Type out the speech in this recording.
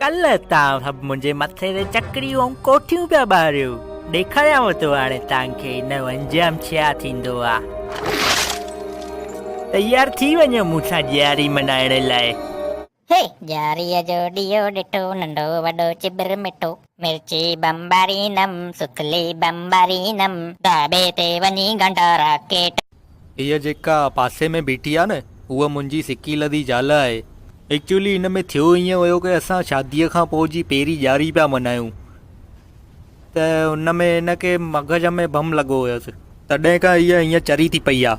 ڪلهه تان سڀ منهنجي مٿي تي چڪريون ۽ ڪوٺيون پيا ٻاريو. ڏيکاريانو ٿو هاڻي توهان کي ان جو انجام ڇا ٿيندو آ. تيار ٿي وڃو مون سان ڄياري ملهائڻ لاء. هي! ڄياريء جو ڏيئو ڏٺو، ننڍو وڏو چٻر مٺو. مرچي بمبارينم سڪلي بمبارينم. ڍاٻي تي وڃي گنڊا راڪيٽ. هيء جيڪا پاسي ۾ بيٺي آهي نه هوء منهنجي سڪي لڌي زال آهي. ايڪچوئلي ان ۾ ٿيو ائين ويو ڪي اسان شاديء کان پوء جي پهرين ڄاري پيا منايون ته ان ۾ هن کي مغز ۾ بم لڳو هيس تڏهن کان هيء هيئن چري ٿي پئي آهي.